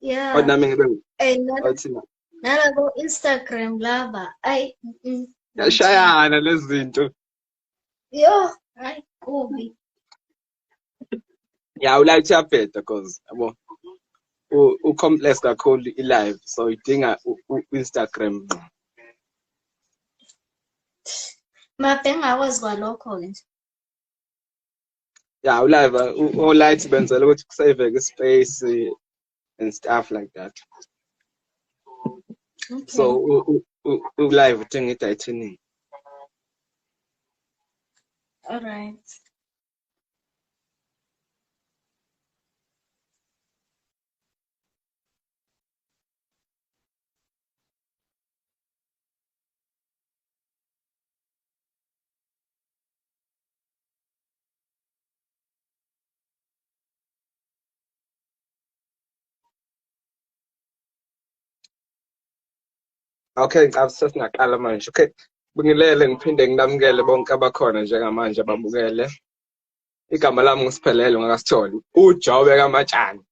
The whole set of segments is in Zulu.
yeah kodwa nami ngibe athina nala ko Instagram laba ay yashayana lezinto yo ay kubi ya ulayithe yabheda cause yabo u complex kakhulu i live so idinga u Instagram ngqo mabhe ngakwazi kwalokho ke nje ya ulive olight benzela ukuthi kusaveke ispace and stuff like that okay. so ulive uthenga i-titanium all right Okay, ngicabanga sesingaqala manje. Okay. Bingilele ngiphinde nginamukele bonke abakhona njengamanje ababukele. Igama lami ngisiphelele ngakasitholi. Ujobe kamatshani.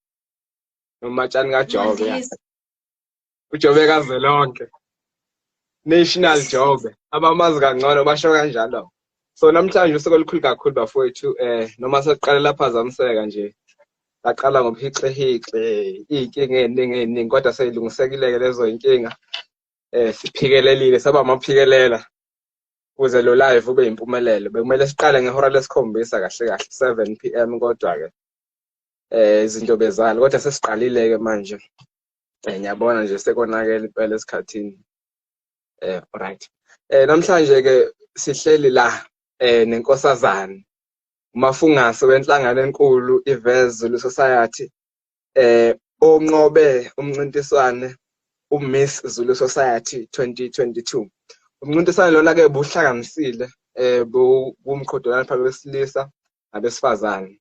Nomatshani kajobe. ujobe kazwelonke national jobe abamazi kangcono basho kanjalo so namhlanje usuku olukhulu kakhulu bafowethu eh noma sekuqale laphazamiseka nje laqala ngobuhixihixi iy'nkinga ey'ningi ey'ningi kodwa seyilungisekile-ke lezo y'nkinga eh siphikelelile saba amaphikelela kuze lo live ube yimpumelelo bekumele siqale ngehora lesikhombisa kahle kahle 7 p m kodwa-ke eh izinto bezalo kodwa sesiqalile-ke manje Eh, ngiyabona nje sekonakele impela esikhathini eh right eh namhlanje ke sihleli la eh nenkosazane umafungase wenhlangano enkulu ivezulu society eh onqobe umncintiswane uMiss Zulu Society 2022 umncintiswane lona ke buhlanganisile eh kumqhudelwano phakathi kwesilisa nabesifazane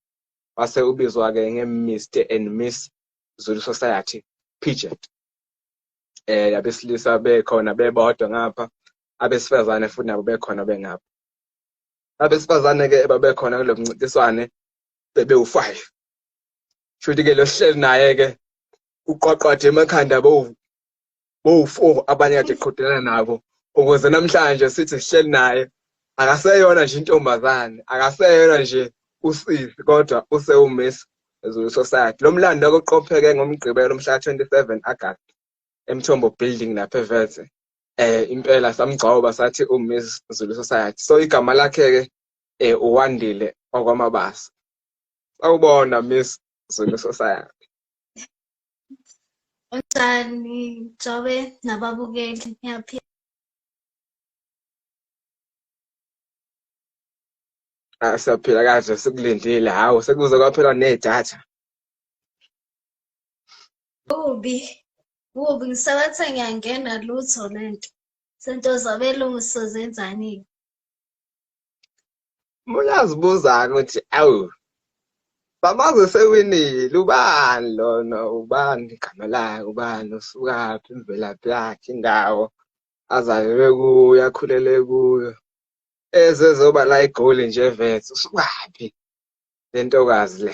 wase ubizwa ke ngeMr and Miss Zulu Society pageant eh abesilisa bekhona bebodwa ngapha abesifazane futhi nabo bekhona bengapha abesifazane ke babekhona kulo mncintiswane bebewu-5 shuthi ke lo hleli naye ke uqwaqwathe emakhanda bowu-four abanye kade qhudelana nabo ukuze namhlanje sithi sihleli naye akaseyona nje intombazane akaseyona nje usisi kodwa usewumiss ezulu society lo mlando akuqopheke ngomgqibelo mhla 27 agast emthombo building lapha eveze eh impela samgcoba sathi umiss zulu society so igama lakhe-ke eh uwandile okwamabasa sawubona miss zulu society Unjani Jobe nababukeli ngiyaphila. Ah, siyaphila kahle sikulindile hawu sekuze kwaphela nedatha kubi kubi ngisabathe ngiyangena lutho lento sento zabelungu sizenzanini uyazibuza-ke ukuthi awu bamaze sewinile ubani lona ubani igama lakhe ubani usukaphi imvelaphi yakhe indawo azalelwe kuyo akhulele kuyo ezezoba la igoli nje vethu usukaphi le ntokazi le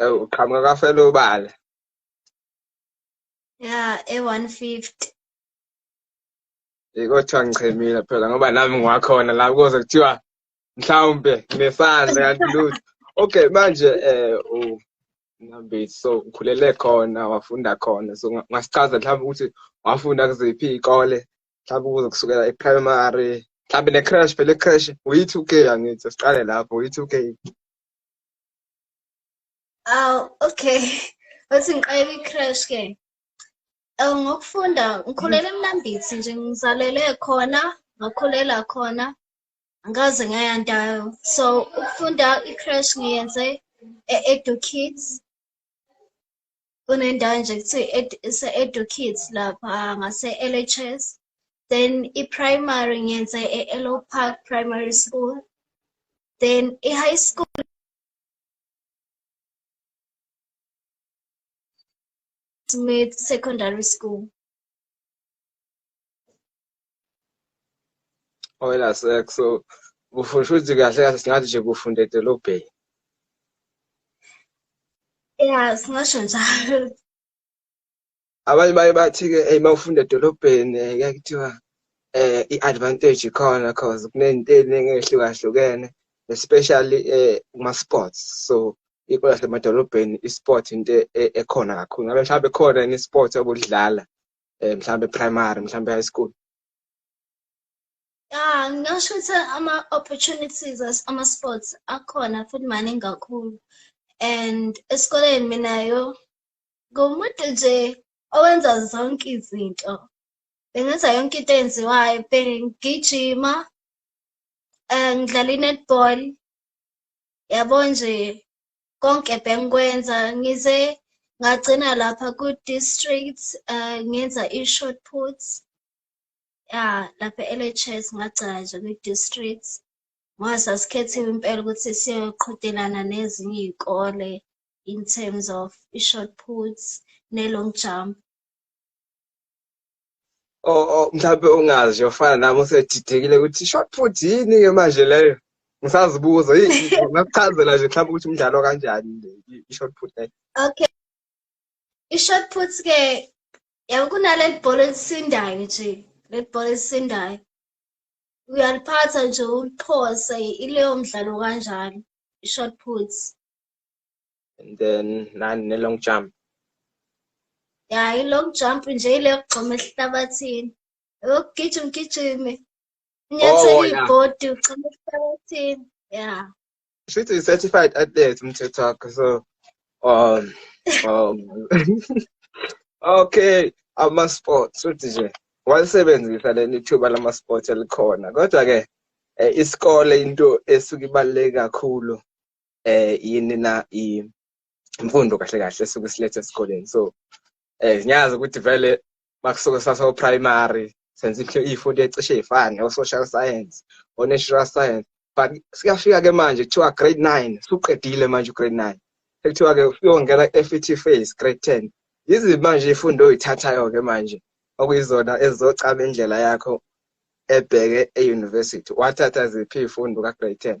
Eh, uqhamuka kafela ubala ya e-150 kodwa ngichemile phela ngoba nami ngiwakhona la kuze kuthiwa mhlawumbe nginesandla kanti lutho okay manje um nambeti so ukhulele khona wafunda khona so ungasichaza mhlawumbe ukuthi wafunda kuziphi iy'kole mhlawumbe ukuze kusukela e-primary mhlawumbe ne-crash phela e-crash uyi-two k angithi siqale lapho uyi-two k aw okay othi ngiqayela i-crash ke um ngokufunda ngikhulele emnambithi nje ngizalele khona ngakhulela khona angikaze ngaya ndayo so ukufunda i-crash ngiyenze e-edukids kunendawo nje kuthiwa edu kids lapha ngase-lhs then i-primary ngiyenze e-elo park primary school then i-high school Smith Secondary School. oyela sex so ufusha ukuthi kahle kahle singathi nje kufunda edolobheni ya singasho njalo abanye baye bathi-ke eyi uma ufunda edolobheni eh, kuyaye kuthiwa um i-advantage ikhona cause kunezinto eziningi ey'hlukahlukene especially um kuma-sports so ikho lasemadolobheni i-sport into e, ekhona kakhulu ngabe mhlawumbe khona yini i-sport obulidlala eh, mhlawumbe primary mhlawumbe high school ya ngingasho ukuthi ama-opportunities ama-sports akhona futhi maningi kakhulu and esikoleni minayo ngomuntu nje owenza zonke izinto bengenza yonke into eyenziwayo bengigijima um ngidlala i-netball yabo nje konke bengikwenza ngize ngagcina lapha ku-district uh, ngenza i-short puts ya lapha e-lhs ngagcina nje kwi-district ngoba sasikhethiwe impela ukuthi siyoqhudelana nezinye iy'kole in terms of i-short puts ne-long jump mhlawumbe ungazi yofana nami usedidekile ukuthi short put yini ke manje leyo ngisazibuza ngakuchazela nje mhlawumbe ukuthi umdlalo kanjani i-short put leyo okay i-short put ke yabo kunaleli bhola elisindayo nje leli bhola elisindayo uyaliphatha nje uliphose ileyo mdlalo kanjalo i-short put and then nani ne long jump ya i long jump nje ile yokugxuma esihlabathini ukugijima ugijime unyathela oh, ibhodi ugxuma esihlabathini ya she's a certified athlete mthetho wakhe so um um okay ama-sports futhi nje walisebenzisa leli thuba lama-sports elikhona kodwa-ke um isikole into esuke ibaluleke kakhulu eh yini na imfundo kahle kahle suku silethe esikoleni so eh ngiyazi ukuthi vele bakusuke sasa primary senze into ifundo ecishe ifane o social science o natural science but siyafika ke manje kuthiwa grade 9 suqedile manje grade 9 ekuthiwa ke uyongena FET phase grade 10 yizi manje ifundo oyithathayo ke manje okuyizona ezizocaba indlela yakho ebheke e-university wathatha ziphi ifundo ka-grade 10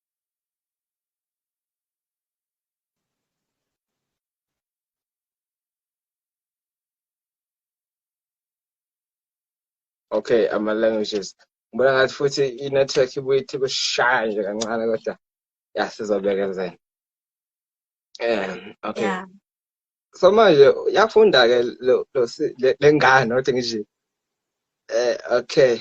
okay ama-languages ngibona ngathi futhi i-network ibuye ithi kushaya nje kancane kodwa ya sizobekezela um okay yeah. so manje uyafunda ke lo lengane not ngisho eh okay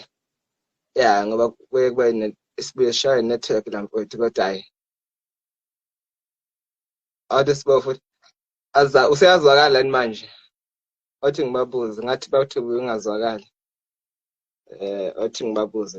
yeah ngoba kuye kube isibuye shaye network la mfowethu kodwa hayi awuthi sibo futhi aza useyazwakala yini manje othi ngibabuze ngathi bathi ungazwakali eh othi ngibabuze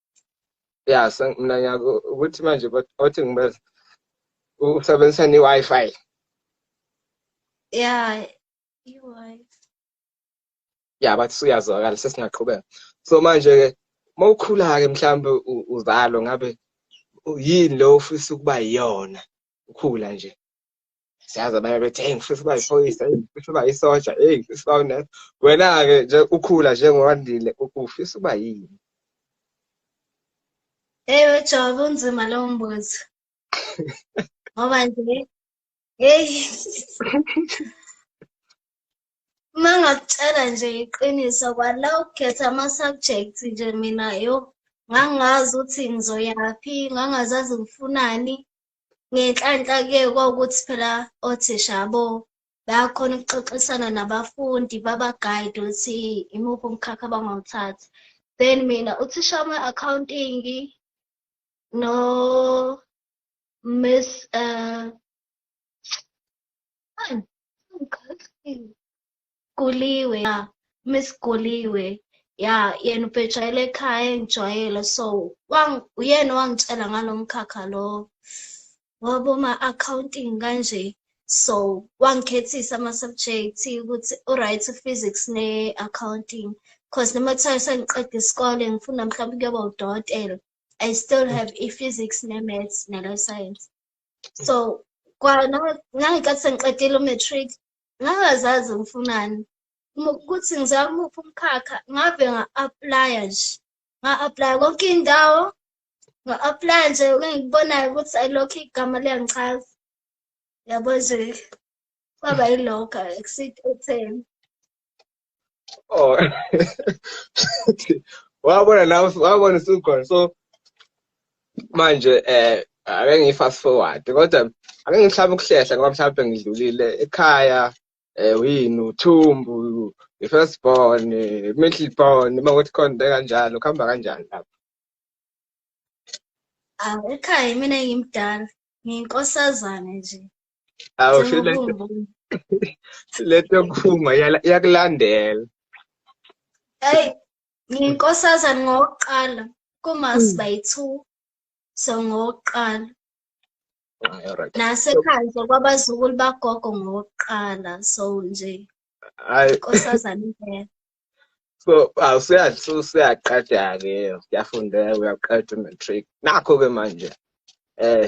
ya so mina ngiyako ukuthi manje othi ngibe usebenzisa ne-wi-fi ya i-wi-fi ya bathi suyazwakala sesingaqhubeka so manje-ke uma ukhula-ke mhlawumbe uzalo ngabe yini lo ufisa ukuba yiyona ukhula nje siyazi abanye bethi hey ngifisa uba yiphoyisa ngifisa uba yisoja hey ngifisa uba unesa wena-ke nje ukhula njengowandile ufisa uba yini ewe jobe unzima lowo mbuzo ngoba nje heyi uma ngakutshela nje iqiniso kwala ukukhetha ama-subject nje mina yo ngangazi ukuthi ngizoyaphi ngangazazi ngifunani ngenhlanhla ke kwakuthi phela othisha bo bayakhona ukuxoxisana nabafundi babagayide ukuthi imuphi umkhakha abangawuthatha then mina uthisha wama-accounting no miss um Guliwe ya Miss Guliwe ya yena ubhejayele ekhaya engijwayele so wang uyena wangitshela ngalomkhakha lo wabo ma accounting kanje so wangikhethisa ama subjects ukuthi u right physics ne accounting because noma kuthiwa sengiqeda isikole ngifuna mhlawumbe kuyoba udokotela i still mm. have i-physics ne-maths ne-life science so kwanangikathi sengiqedile u-matric ngangazazi ngifunani ukuthi ngizama umuphi umkhakha ngave nga-aplaya nje nga-aplaya konke indawo nga-aplaya nje engikubonayo ukuthi ayilokho igama liyangichaza yabo nje kwaba yilokho exit etheni oh wabona nawe wabona sukhona so manje eh ake ngiyi-fast forward kodwa ake ngihlaba ukuhlehla ngoba mhlawumbe ngidlulile ekhaya um yini uthumbu i-first born i-middle born uma kuthi khona into kanjalo kuhamba kanjani lapho awu ekhaya mina ngimdala ngiyinkosazane nje awu lento yokuphuma iyakulandela eyi ngiyinkosazane ngokuqala kumasi hmm. bayi-two so ngokuqala nasekhaya nje kwabazukulu bagogo ngokuqala so nje inkosazane impela so usuyaqeda-ke uyafundeka uyaqeda umatric nakho-ke manje um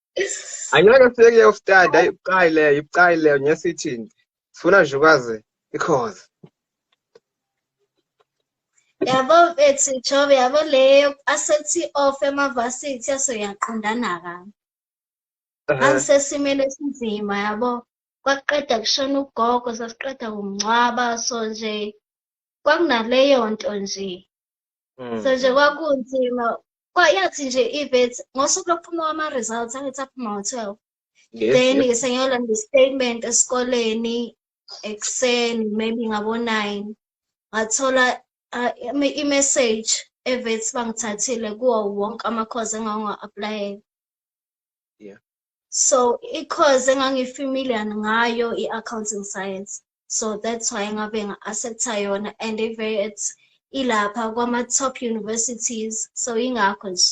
Angeke sifike kuyoftada ibucayi leyo ibucayi leyo nyesithini. Sifuna nje ukwazi ikhozi. Yabo mfethu Jobe yabo leyo asethi off emavasithi yaso yaqondana ka. Angisesimele esinzima yabo. Kwaqeda kushona ugogo sasiqeda kumncwaba so nje kwakunaleyo nto nje. mm. so nje kwakunzima kwayathi nje ibet ngosuku lokuphuma kwama-results angithi aphuma ngo-twelve then yes. sengiyolanda i-statement esikoleni ekuseni maybe ngabo-nine ngathola uh, i-message evethi bangithathile kuwo wonke amakhozi engangiwa-aplayela yeah. so i-course engangifamiliar ngayo i-accounting science so that's why ngabe nga-accepta yona and ivey it's ilapha kwama-top universities so yingakho nje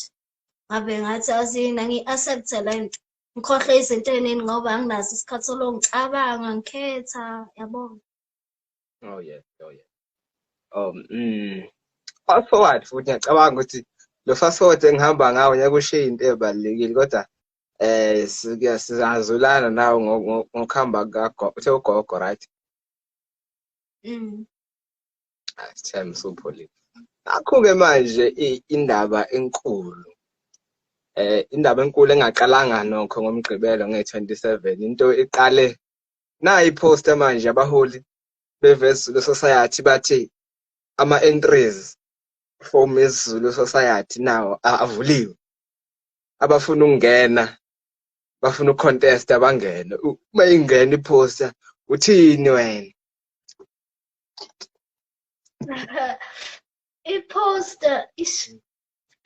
ngabe ngathi azina ngi-accepta le nto ngikhohlwe izinto ey'ningi ngoba anginaso isikhathi solongicabanga ngikhetha yabona oh yeah oh yeah um mm fast forward futhi ngiyacabanga ukuthi lo fast forward engihamba ngawo ngeke ushiye into ebalekile kodwa eh sizazulana nawo ngokuhamba kagogo uthe ugogo right mm ah, Shem supholile akho-ke manje indaba enkulu eh indaba enkulu engaqalanga nokho ngomgqibelo nge-27 into iqale nayi post manje abaholi bevezulu society bathi ama entries for Miss Zulu society nawo avuliwe abafuna ukungena bafuna ucontest abangene uma ingena iposter uthini wena iposter ish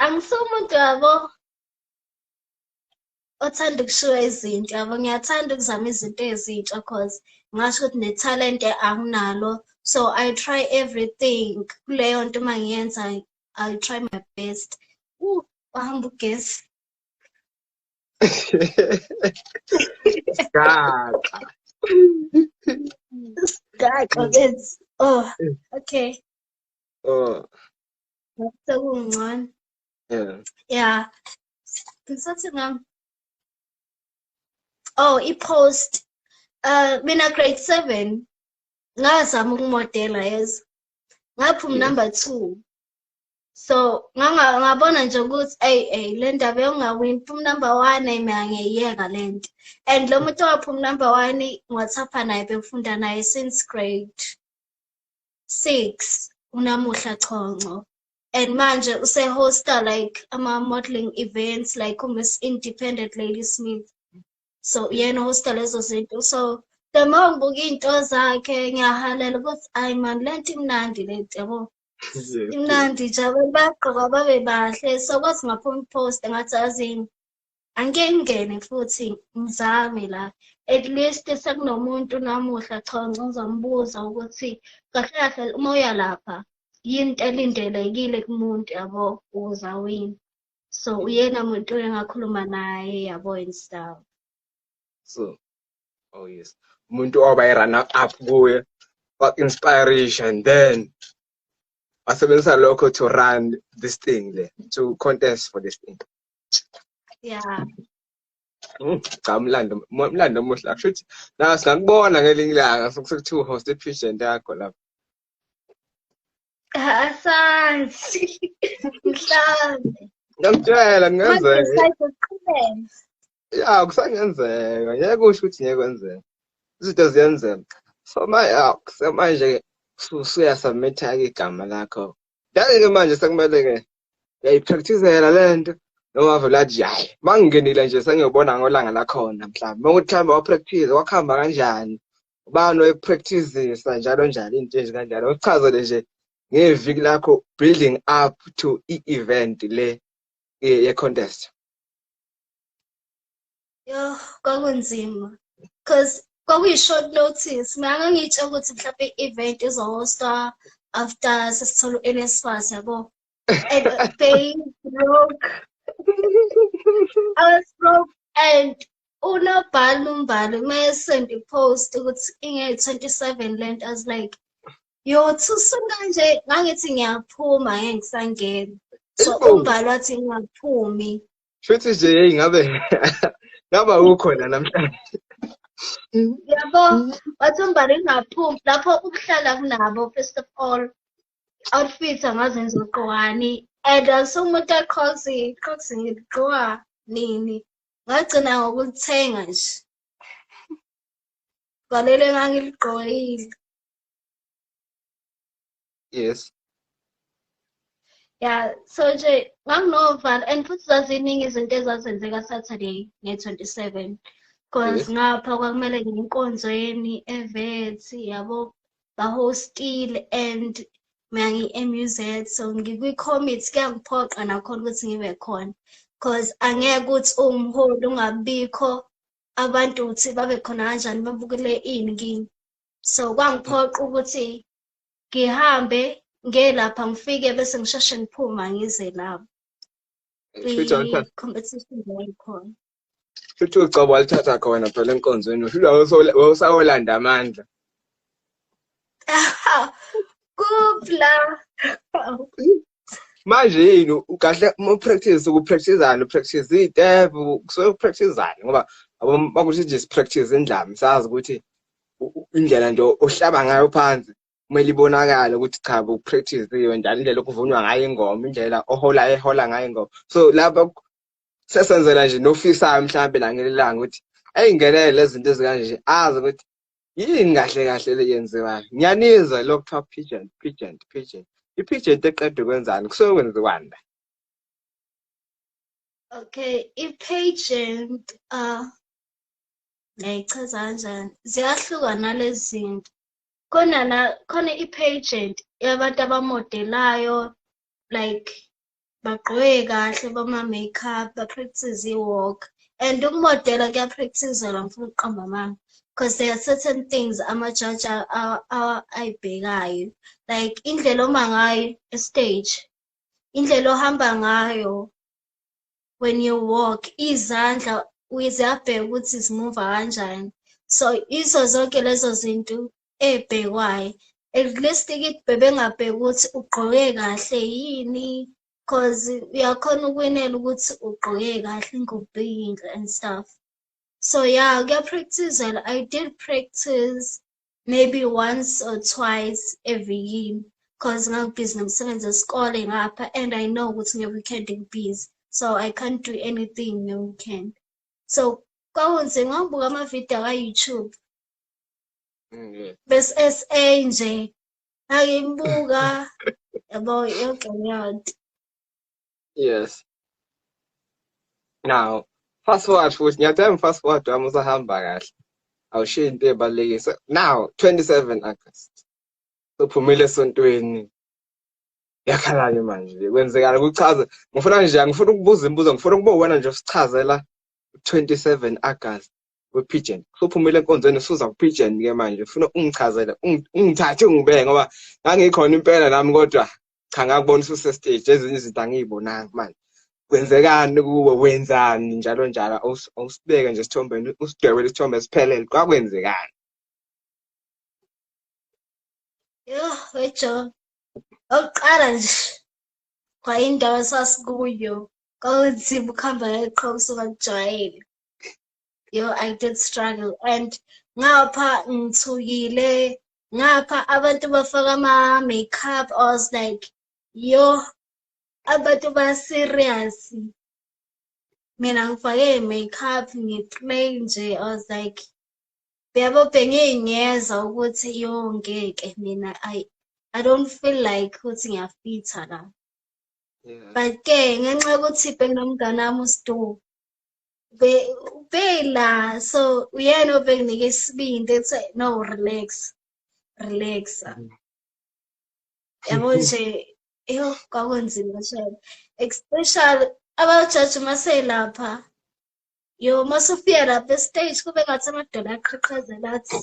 angisomuntu yabo othanda ukushiwa izinto yabo ngiyathanda ukuzama izinto ezintsha cause ngasho ukuthi nethalente anginalo so i try everything kuleyo nto uma ngiyenza i try my best uh wahamba ugesi Gaxa. Gaxa benzi. Oh, okay. Oh. Sekungcono. Yeah. Yeah. ngisathi ngam oh i-post uh mina grade seven ngazama ukumodela yeza ngaphuma number two so ngabona nje ukuthi eyi eyi le ndaba yokungawini phuma number one ayi mina ngiyiyeka le nto and lo muntu owaphuma number one ngiwathapha naye bengifunda naye since grade six unamuhla chonco and manje usehosta like ama-modeling events like umiss independent lady smith so uyena uhosta lezo zinto so the more ngibuka iy'nto zakhe ngiyahalela ukuthi ayi mani le nto imnandi le nto yabo imnandi nje abantu bagqoka babe bahle so kwathi ngaphuma ipost ngathi azini angike ngingene futhi ngizame la at least sekunomuntu namuhla chonco ngizombuza ukuthi kahle kahle uma uya lapha yini into elindelekile kumuntu yabo ukuze awine so uyena muntu engakhuluma naye yabo and stuff so oh yes umuntu oba i-runner up kuye wa-inspiration then wasebenzisa lokho to run this thing le to contest for this thing ya hmm, cha umlando umlando omuhle akusho ukuthi na singakubona ngelinye ilanga sekuthiwa uhost epigeon yakho lapho asanzi mhlawumbe ngiyakutshela kungenzeka ya kusangenzeka ngeke kusho ukuthi ngeke kwenzeka izinto ziyenzeka so manje-ke usuyasubmitha-ke igama lakho yaye ke manje sekumele ke yayipracticela lento nowavela athi hayi mangingenile nje sengiyobona ngolanga lakhona mhlawumbe makuthi mhlawumbe wapractice wakuhamba kanjani ubani oyipracticisa njalo njalo into nje kanjalo uchazele nje ngeviki lakho building up to i-event le ye-contest Yo, kwakunzima. Because kwakuyi-short notice. Mina ngangiyitshela ukuthi mhlawumbe i-event izohosta after sesithola u-NSFAS yabo. And they broke. I was broke and unobhala umbali uma esend i-post ukuthi inge-27 le nto as like yo thusuka nje ngangithi ngiyaphuma ngeke ngisangena so umbali wathi ngingaphumi Futhi nje hey ngabe ngaba ukhona namhlanje. Yabo, wathi umbali ungaphumi lapho ukuhlala kunabo first of all. Outfits angazenza uqwani and asumuntu aqhozi, qhozi ngigqoka nini. Ngagcina ngokuthenga nje. Valele ngangiligqokile. yes ya so nje nganginovalo and futhi zaziningi izinto ezazenzeka saturday nge-27 because ngapha kwakumele nginkonzweni evethi yabo bahostile and mina ngiyi-muz so ngikwi-commit kuyangiphoqa nakhona ukuthi ngibe khona because angeke ukuthi uwumholi ungabikho abantu ukuthi babe khona kanjani babukele ini kimi so kwangiphoqa ukuthi ngihambe ngiye lapha ngifike bese ngisheshe ngiphuma ngize lapho i-competition yayikhona futhi ucobo walithatha khona phela enkonzweni uhlula wawusawolanda amandla kupla manje yini kahle uma upractice ukupracticezana upractice itep kusuke upracticezana ngoba bakuthi nje sipractice indlami sazi ukuthi indlela nje ohlaba ngayo phansi kumele ibonakale ukuthi cha upractice-iwe njalo indlela okuvunwa ngayo ingoma indlela ohola ehola ngayo ingoma so lapha sesenzela nje nofisayo mhlawumbe langelelanga ukuthi ayingenele lezi zinto ezikanje azi ukuthi yini kahle kahle le yenziwayo ngiyanizwa lokhu kuthiwa pigeon pigeon pigeon i-pigeon eqeda ukwenzani kusuke kwenziwani la okay i-pageant uh ah, ngayichaza kanjani ziyahluka nalezi zinto khona na khona i-pageant yabantu abamodelayo like bagqoke kahle bama-makeup ba-practice i-walk and ukumodela kuyapractizelwa ngifuna ukuqamba amanga because there are certain things amajaji ayibhekayo like indlela oma ngayo estage indlela ohamba ngayo when you walk izandla ziyabheka ukuthi zimuva kanjani so izo zonke lezo zinto ebhekwayo at least kithi bebengabheki ukuthi ugqoke kahle yini cause uyakhona ukwinela ukuthi ugqoke kahle ngokubeyinhle and stuff so yeah kuyapractizela i did practice maybe once or twice every year cause ngangibhizi nomsebenzi wesikole ngapha and i know ukuthi nge-weekend ngibhizi so i can't do anything nge-weekend so kwakunzima ngangibuka amavidiyo aka-youtube mm, bese-sa nje ngangimbuka yabo yonke leyonto yes now fast forward futhi ngiyacela fast forward wami usahamba kahle awushiye into ebalulekile now 27 august sophumile esontweni yakhalani manje kwenzekala kuchaza ngifuna nje angifuna ukubuza imibuzo ngifuna ukuba uwena nje usichazela 27 August wepigeon usuphumile enkonzweni usuza kupigeon ke manje ufuna ungichazele ungithathe ungibeke ngoba ngangikhona impela nami kodwa cha ngakubona ususestage ezinye izinto angiyibonanga manje kwenzekani kuwe wenzani njalo njalo awusibeke nje esithombeni usidwebele isithombe siphelele kwakwenzekani yho wejo okuqala nje kwayindawo esasikuyo kwakunzima ukuhamba ngeqhobo usungakujwayele yo i did struggle and ngapha ngithukile ngapha abantu bafaka ama makeup i was like yo abantu ba serious mina ngifake makeup ngiplain nje i was like yabo bengiyingeza ukuthi yo ngeke mina i i don't feel like ukuthi ngiyafitha la but ke ngenxa yokuthi benginomngane wami uStu ubhela so uyena obenginike isibindi ethi no relax relax yabo nje yo kwakunzima shebe especially abajaji uma selapha yo uma sufika lapha estage kube ngathi amadolo aqhaqhazela athi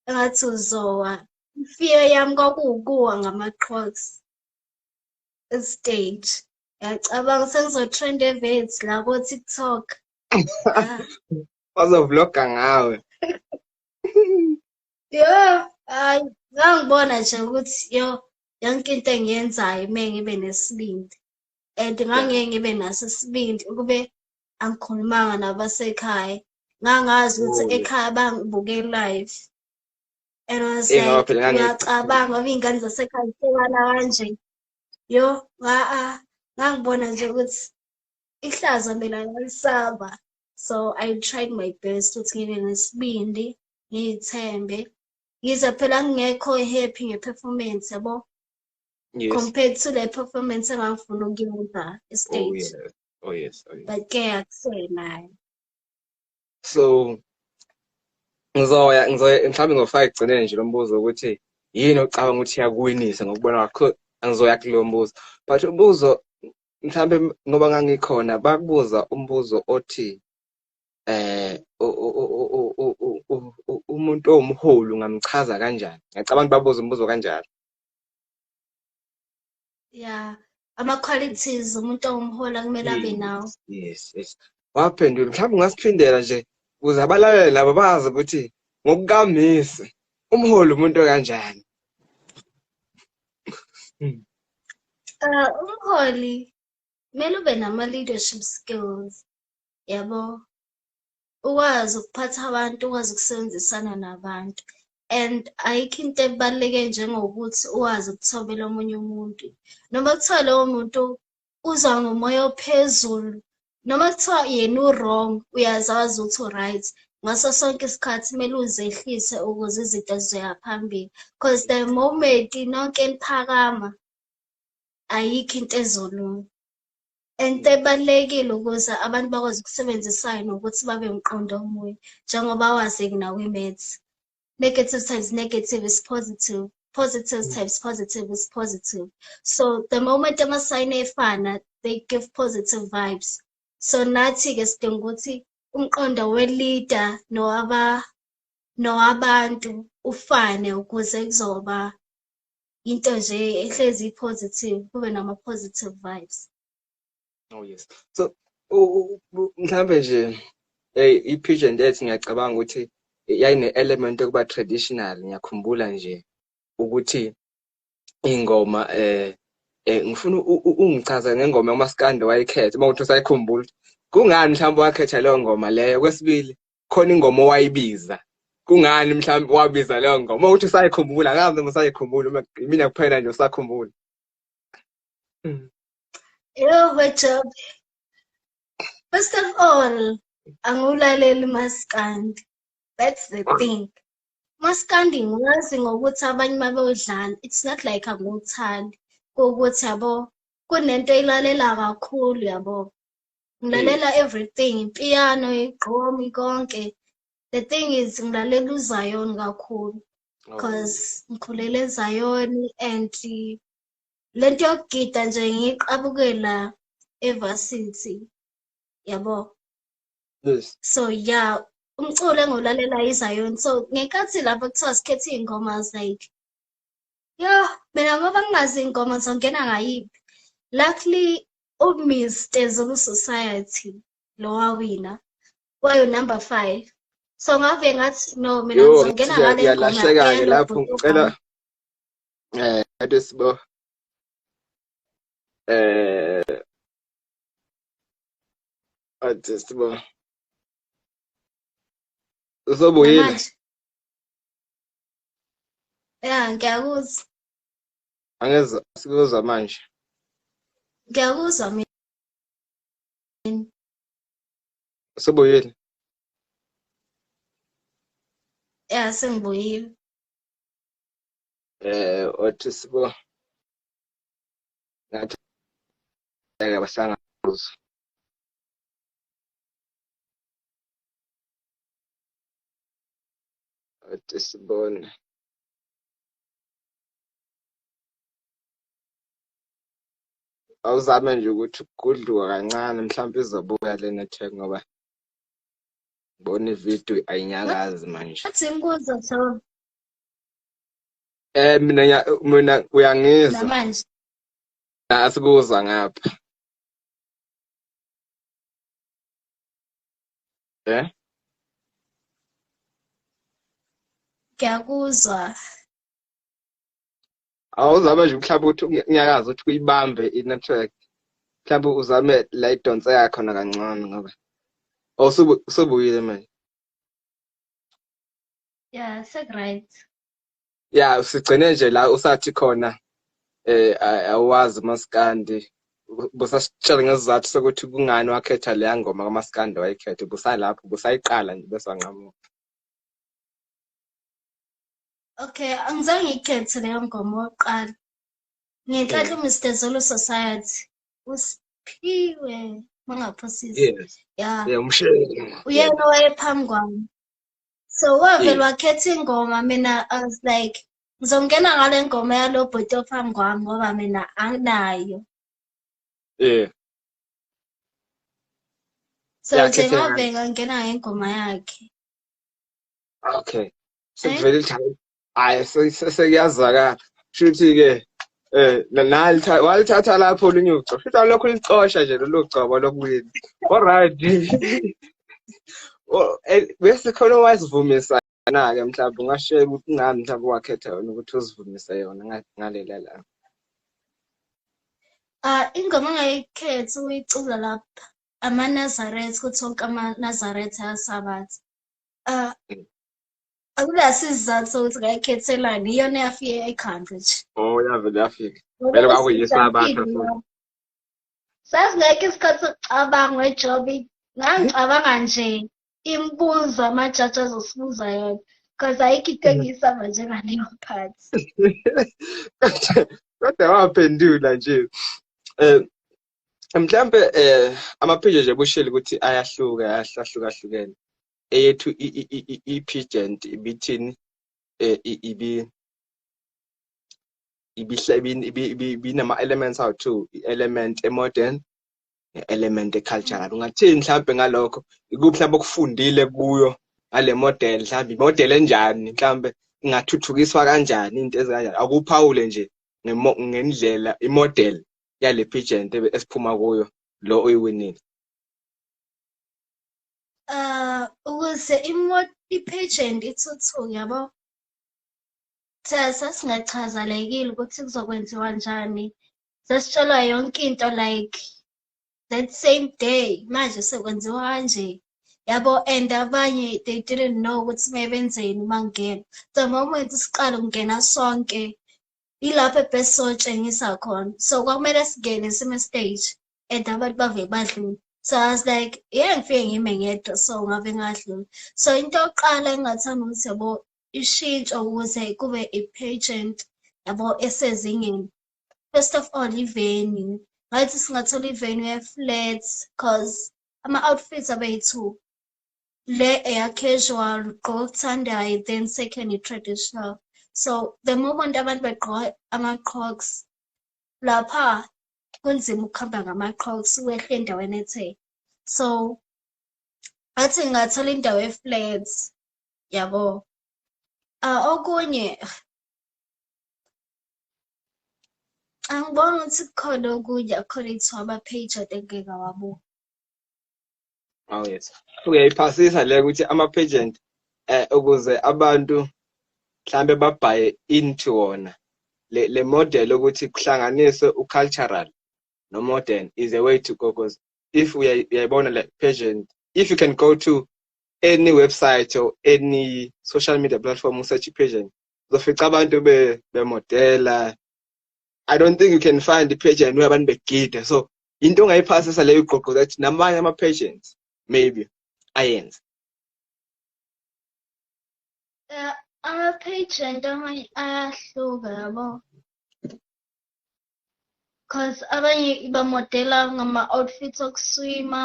engathi uzowa imfiyo yami kwakuwukuwa ngama-crocs estage Ngiyacabanga sekuzotrend evets la ko-TikTok. Bazovloga ngawe. Yo, hayi ngangibona nje ukuthi yo yonke into engiyenzayo uma ngibe nesibindi and ngangeke ngibe naso isibindi ukube angikhulumanga nabasekhaya ngangazi ukuthi oh. ekhaya bangibuke live and was like ngiyacabanga ngoba iy'ngane zasekhaya zihlekana kanje yo ngaa ngangibona nje ukuthi ihlazo mina ngalisaba so i tried my best ukuthi ngibe nesibindi ngiyithembe ngize phela ngingekho happy nge-performance yabo yes. compared to le performance engangifuna ukuyenza estage oh, yes. Oh, yes. Oh, yes. but ke akuseyinayo so ngizoya ngizoya mhlawumbe ngizofaka ekugcineni nje lo mbuzo ukuthi yini ocabanga ukuthi iyakuwinisa ngokubona kwakho angizoya kulo mbuzo but umbuzo mhlawumbe ngoba ngangikhona bakubuza umbuzo othi eh umuntu owumholi ungamchaza kanjani ngiyacabanga babuza umbuzo kanjalo yeah ama-qualities umuntu ongumhola kumele abe nawo yes yes waphendula mhlawumbe ungasiphindela nje ukuze abalalele laba bazi ukuthi ngokukamisi umholi umuntu kanjani hmm. uh, umholi kumele ube nama-leadership skills yabo ukwazi ukuphatha abantu ukwazi ukusebenzisana nabantu and ayikho into ebaluleke njengokuthi uwazi ukuthobela omunye umuntu noma kuthiwa lowo muntu uza ngomoya ophezulu noma kuthiwa yena u-wrong uyazazi ukuthi u-right ngaso sonke isikhathi kumele uzehlise ukuze izinto zizoya phambili because the moment nonke liphakama ayikho into ezolunga ento ebalulekile ukuze abantu bakwazi ukusebenzisayo nokuthi babe mqondo omunye njengoba wazeki nakwi-maths negative times negative is positive positive mm. times positive is positive so the moment amasayini efana they give positive vibes so nathi-ke sidinga ukuthi umqondo welida nowabantu ufane ukuze kuzoba into nje ehlezi i-positive kube nama-positive vibes oh yes so mhlambe nje hey i-pigeon death ngiyacabanga ukuthi yayine-element yokuba traditional ngiyakhumbula nje ukuthi ingoma eh eh ngifuna ungichaze ngengoma umaskandi wayikhetha uma uthi usayikhumbula kungani mhlawumbe wakhetha leyo ngoma leyo kwesibili khona ingoma owayibiza kungani mhlawumbe wabiza leyo ngoma ukuthi usayikhumbula kazi noma usayikhumbula uma mina kuphela nje usakhumbula Yo Jobe. First of all, angiwulaleli maskandi. That's the thing. Maskandi ngiwazi ngokuthi abanye uma bewudlala, it's not like angiwuthandi. Ukuthi yabo kunento eyilalela kakhulu yabo. ngilalela everything ipiano igqomi konke the thing is ngilalela uzion kakhulu because oh. ngikhulele ezion and lento yokugida nje ngiyiqabukela evarsity yabo yes so yeah umculo engiwulalela izion so ngenkathi lapho kuthiwa sikhethe iy'ngoma like yo mina ngoba ngingazi iy'ngoma zongena ngayiphi luckily uMr Zulu Society lo wawina wayo number 5 so ngave ngathi no mina ngizongena ngale ngiyalahleka ke lapho ngicela eh ade sibo eh ade sibo uzobuyela ya ngiyakuzwa angeza sikuzwa manje ngiyakuzwa mina usebuyile ya sengibuyile eh othi sibo ngathi ngeke bahlangabuzwa othi sibone awuzame nje ukuthi kudliwa kancane mhlawumbe izobuya le network ngoba ngibona ividiyo ayinyakazi manje athi imbuzo so eh mina mina uyangizwa namanje asikuzwa ngapha eh ngiyakuzwa awuzame nje mhlawumbe ukuthi unyakaza ukuthi uyibambe i-network mhlawumbe uzame la idonse yakhona kancane ngoba oh, usubuyile manje ya sekuright ya sigcine nje la usathi khona eh awazi maskandi busasitshela ngesizathu sokuthi kungani wakhetha leya ngoma kamaskandi wayikhetha busalapho busayiqala nje bese wanqamuka Okay, angizange ngiyikhethe leyo ngoma oqala. Ngenhlanhla uMr Zulu Society usiphiwe mangaphosisi. Yes. Yeah. Yeah, umshele. Uyena owayephambi kwami. So wavele wakhetha ingoma mina I was like ngizongena ngale ngoma yalo bhuti ophambi kwami ngoba mina anginayo. Yeah. So nje ngabheka ngena ngengoma yakhe. Okay. sekuvele eh? lithi hayi sekuyazakala shuthi-ke Eh, walithatha lapho olunye uco futhi alokhu licosha nje lolu gcobo lokuwina olright oh, eh, bese khona owazivumisa na-ke mhlawumbe ungashela ukuthi ngani mhlawumbe wakhetha yona ukuthi uzivumise yona ngalela la ah ingoma angayikhethi uyicula lapha amanazaretha ukuthi wonke amanazaretha asabatha ah akunasizathu sokuthi ngayikhethelani iyona eyafike ekhanda nje oh yavele yafika vele kwakuyisabakho sasingekho isikhathi sokucabanga wejobi ngangicabanga nje imibuzo amajaji azosibuza yona because ayikho into engiyisaba njengaleyo phathi kodwa waphendula nje um mhlawumbe um amaphilo nje bushile ukuthi ayahluka ayahlukahlukene eyethu i-pigent ibithini eh, ibi ibinama-elements awu two i-element e-modern ne-element e-cultural ungathini mhlawumbe ngalokho ikuphi mhlawumbe okufundile kuyo ngale model mhlawumbe imodel enjani mhlawumbe ingathuthukiswa kanjani into ezikanjani akuphawule nje ngendlela imodel yale pigent esiphuma kuyo lo oyiwinile uh ukuze imoto i-patient ithuthuke yabo sasingachazalekile ukuthi kuzokwenziwa njani sasitshelwa yonke into like that same day manje sekwenziwa kanje yabo and abanye they didn't know ukuthi mebenzeni uma ngingena the moment siqala ukungena sonke yilapho ebest sotshengisa khona so kwakumele singene sime stage and abantu bave badlula so i was like yeah ngifike ngime ngedwa so ngabe ngadlula so into yokuqala engingathanda ukuthi yabo ishintsho ukuze kube i-pageant yabo esezingeni first of all i-venue ngathi singathola i-venue e-flat cause ama-outfits abeyi-two le eya casual gqoka okuthandayo then second i-traditional so the moment abantu begqoka ama-crocs lapha kunzima ukuhamba ngama-crocs wehle endaweni ethe so athi ngingathola indawo e-flat yabo uh, okunye angiboni ukuthi kukhona okunye according to ama-page ade ngingeke wabuka aw yes uyayiphasisa le ukuthi ama-pageant eh ukuze abantu mhlambe babhaye into wona le, le model ukuthi kuhlanganiswe u-cultural no-modern is a way to go because if uyayibona le pageant if you can go to any website or any social media platform usearch i-pageant uzofica abantu bemodela I don't think you can find the page and where abantu begida so into ongayiphasisa leyo iqoqo that namanye ama-patients maybe ayenze eh, ama-patient amanye ayahluka yabo because abanye ibamodela ngama-outfits okuswima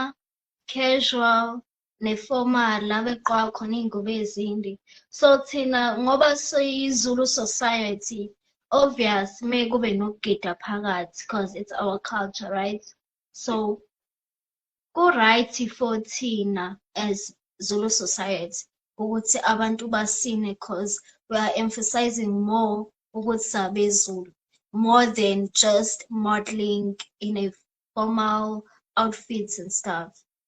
casual neformal la beqwa khona iy'ngubo ezinde so thina ngoba siyizulu society obvious me kube nokugida phakathi because it's our culture right so ku-right for thina as zulu society ukuthi abantu basine because we are emphasizing more ukuthi sabezulu more than just modeling in a formal outfits and stuff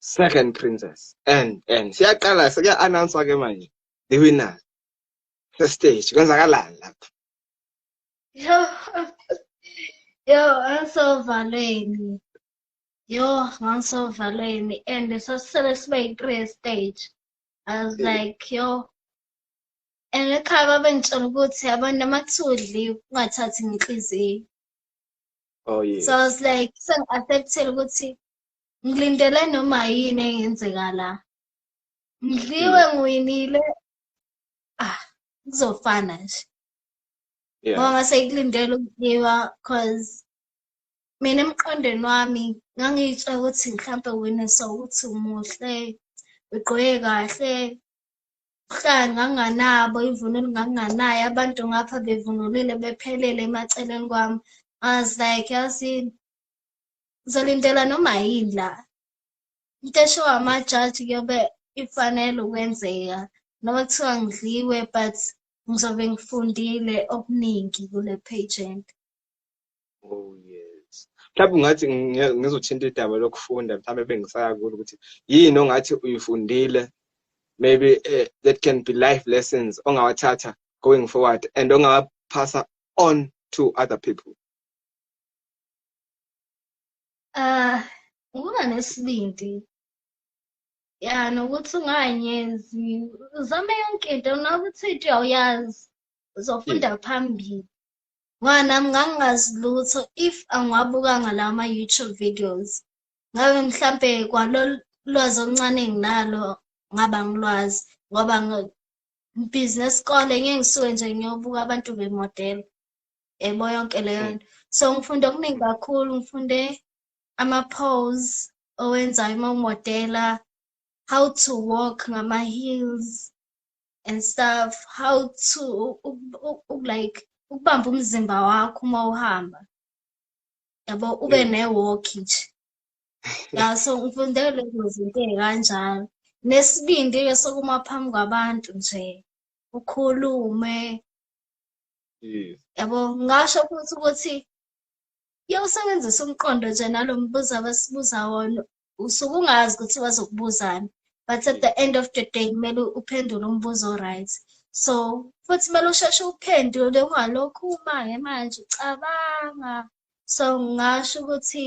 second princess and and siyaqala sekuya announce ke manje the winner the stage kwenzakalani lapha yo yo angisovalweni yo ngangisovalweni and sasisele sibe yi-three stage i was mm. like yo and ekhaya babengitshela ukuthi abantu amathudli ungathathi ngenhliziyo oh yes so i was like sengi-acceptile ukuthi ngilindele noma yini engenzeka la ngidliwe mm. ngiwinile ah kuzofana nje ngoba ngase ngikulindele ukudliwa cause mina emqondweni wami ngangiyitsha ukuthi mhlawumpe wena sawukuthi umuhle ugqoke kahle uhlanga nganganabo ivunulo nganganayo abantu ngapha bevunulile bephelele emaceleni kwami i was like yazini ngizolindela noma yini la into esho amajaji kuyobe ifanele ukwenzeka noma kuthiwa ngidliwe but ngizobe ngifundile okuningi kule pageant oh yes mhlawumbe ungathi ngizothinta idaba lokufunda mhlawumbe bengisaya kulo ukuthi yini ongathi uyifundile maybe uh, that can be life lessons ongawathatha going forward and ongawaphasa on to other people Ah, ukuba nesibindi. Ya, nokuthi unganyenzi, uzame yonke into noba uthi into awuyazi, uzofunda phambili. Ngoba nami ngangingazi lutho if angiwabukanga lawa ma-YouTube videos. Ngabe mhlampe kwalolu lwazi oluncane enginalo ngaba ngilwazi ngoba ngibhizi nesikole ngeke ngisuke nje ngiyobuka abantu bemodela. yebo yonke leyo nto so ngifunde okuningi kakhulu ngifunde ama-pose owenzayo uma umodela how to walk ngama-heels and stuff how to like ukubamba umzimba wakho uma uhamba yabo ube ne-walk nje ya so ngifunde lezo zinto ey'kanjalo nesibindi-ke sokuma phambi kwabantu nje ukhulume yes yabo ngasho futhi ukuthi kuyawusebenzisa umqondo nje nalo mbuzo abasibuza wona usuke ungazi ukuthi bazokubuzani but at the end of the day kumele uphendule umbuzo right so futhi kumele usheshe uphendule ungalokhu umange manje ucabanga so ngasho ukuthi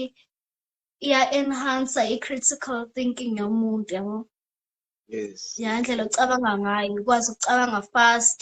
iya-enhansa i-critical thinking yomuntu yabo yes yandlela ocabanga ngayo ukwazi ukucabanga fast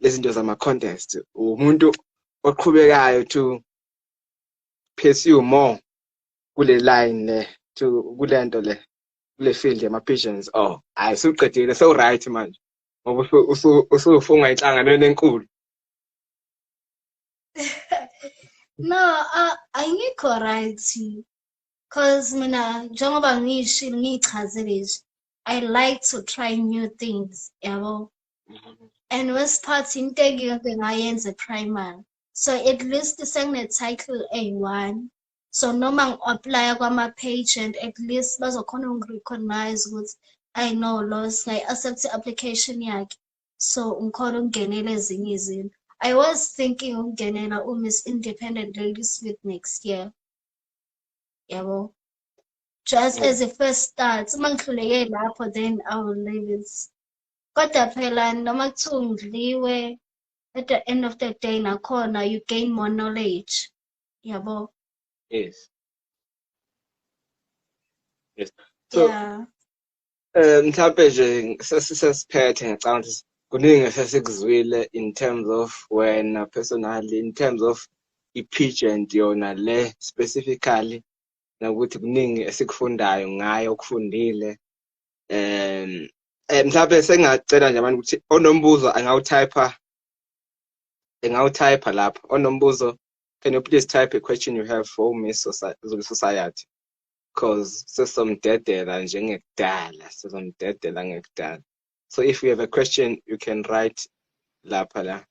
lezinto zama contest umuntu oqhubekayo to pursue more kule line le to kulento le kule field yama pigeons oh hayi suqedile so right manje ngoba usufunga inhlanganweni enkulu no uh, ayingikho right cause mina njengoba ngishilo ngiyichazile nje i like to try new things yabo and worst part into engike ngayenza primary so at least sengine-title eyi-one so noma ngi-aplya kwama-page and at least bazokhona ukungi-recognize ukuthi i know loss ngayi-accept i-application yakhe so ngikhona ukungenela ezinye izinto i was thinking ukungenela umiss independent ladies with next year yabo just as a first start uma ngihluleke lapho then i will leave it kodwa phela noma kuthiwa ungidliwe at the end of the day nakhona you gain more knowledge yabo yes yes so yeah. eh mhlawumbe nje sesisesiphethe ngicabanga ukuthi kuningi esesikuzwile in terms of wena personally in terms of i-pageant yona le specifically nokuthi kuningi esikufundayo ngayo okufundile um eh, mhlawumbe sengacela nje abantu ukuthi onombuzo angawutypha engawutypha lapho onombuzo can you please type a question you have for me zulu society because sesomdedela njengekudala sesomdedela ngekudala so if you have a question you can write lapha la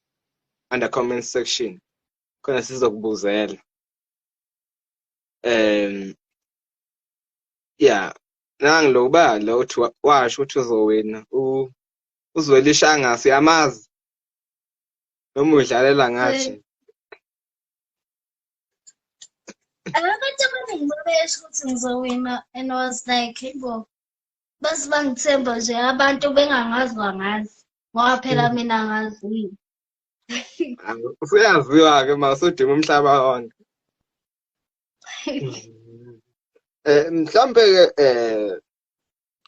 under comment section khona sizokubuzela um yeah nangi lo ubala uthi washo ukuthi uzowina uzwela ishangasi uyamazi noma udlalela ngathi abantu abaningi babesho ukuthi ngizowina and was like bo base bangithemba nje abantu bengangazi bangazi ngoba phela mm. mina ngaziyo usuyaziwa-ke ma usudima umhlaba wonke Mm. eh mhlambe ke eh,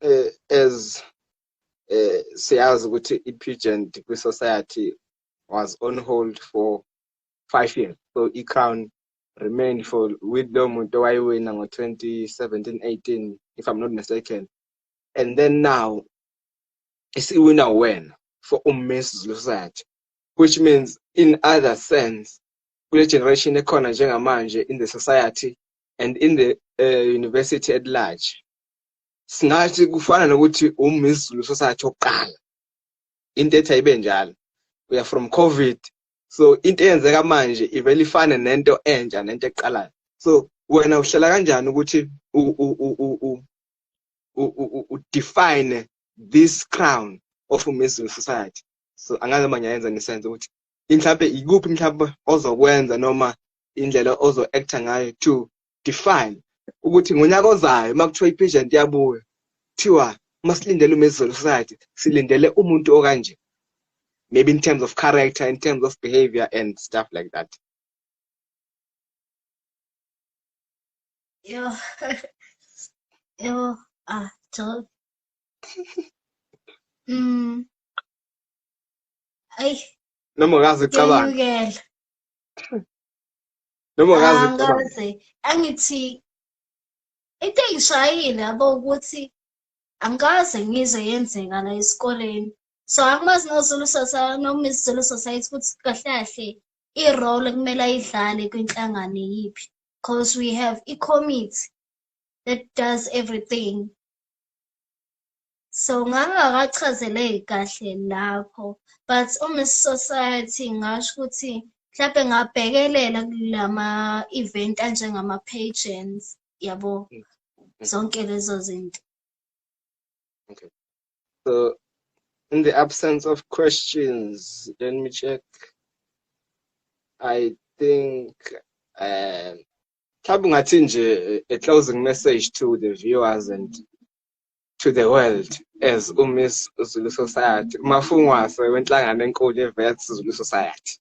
eh as eh siyazi ukuthi iPugent kwi society was on hold for 5 years so iCrown remained for with lo muntu owayiwina ngo 2017 18 if i'm not mistaken and then now isiwina wena for uMiss Society which means in other sense kule generation ekhona njengamanje in the society and in the uh, university at large singathi kufana nokuthi umizulu society oqala into ethi ayibe njalo we are from covid so into eyenzeka manje ivele ifane nento entsha nento eqalayo so wena uhlela kanjani ukuthi udefine this crown of umizulu society so angake mangiyayenza ngisenze ukuthi mhlawumbe ikuphi mhlawumbe ozokwenza noma indlela ozo-acta ngayo to define ukuthi ngonyaka ozayo uma kuthiwa i-patient yabuya kuthiwa uma silindele umezulu society silindele umuntu okanje maybe in terms of character in terms of behavior and stuff like that yo yo ah to mm ayi noma kazi cabanga ngiyukela noma kazi ah, cabanga angithi into engishayile yabo ukuthi angikaze ngizwe yenzeka la esikoleni so angimazi nozulu society noma izulu society ukuthi kahle kahle i-role ekumele ayidlale kwinhlangano yiphi because we have i-committee that does everything so ngangakachazeleki kahle lapho but umiss society ngasho ukuthi mhlawumbe ngabhekelela kulama event anjengama pageants yabo mm. Mm. zonke lezo zinto okay so in the absence of questions let me check i think um mhlawumbe ungathi nje a closing message to the viewers and to the world as uMiss Zulu Society, umafungwase wenhlangano enkulu yeVets Zulu Society?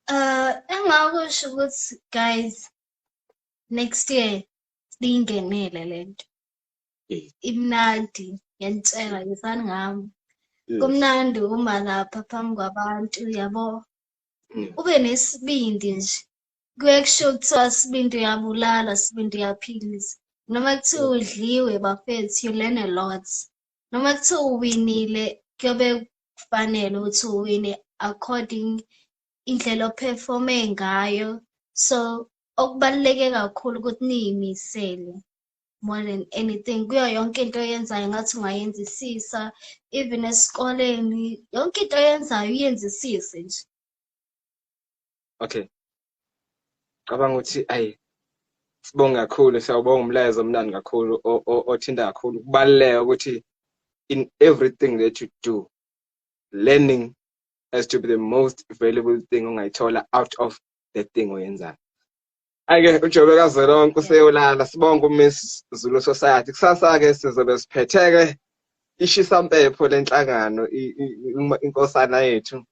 Uh, engakusho ukuthi guys next year liyingenile lento. Imnandi ngiyantshela ngisani ngami. Kumnandi uma lapha phambi kwabantu yabo. Mm. Ube nesibindi nje kuye kusho kuthiwa sibindi uyabulala sibindi uyaphilisa noma kuthiwa udliwe bafethu you learn a lot noma kuthiwa uwinile kuyobe kufanele ukuthi uwine according indlela operforme ngayo so okubaluleke kakhulu ukuthi niyimisele more than anything kuyo yonke into oyenzayo ngathi ungayenzisisa even esikoleni yonke into oyenzayo uyenzisise nje okay cabanga ukuthi ayi sibonga kakhulu siyawubonga umlayezo omnandi kakhulu othinta kakhulu kubaluleka ukuthi in everything that you do learning has to be the most valuable thing ongayithola out of the thing oyenzayo Ake uJobe kazwelonke useyolala sibonga uMiss Zulu Society kusasa ke sizobe siphetheke ishisa mpepho lenhlangano inkosana yethu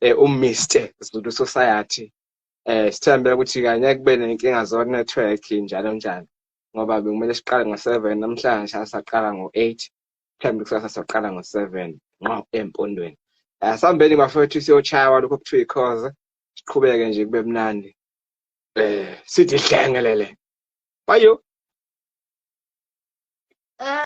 eh uMr Zulu Society eh sithembe ukuthi kanye kube nenkinga zo network njalo njalo ngoba bekumele siqale ngo7 namhlanje asaqala ngo8 mhlawumbe kusasa soqala ngo7 nqo empondweni asambeni eh, bafethu siyochaya lokho kuthiwa ikhoze siqhubeke nje kube mnandi eh sithi hlengelele bayo eh.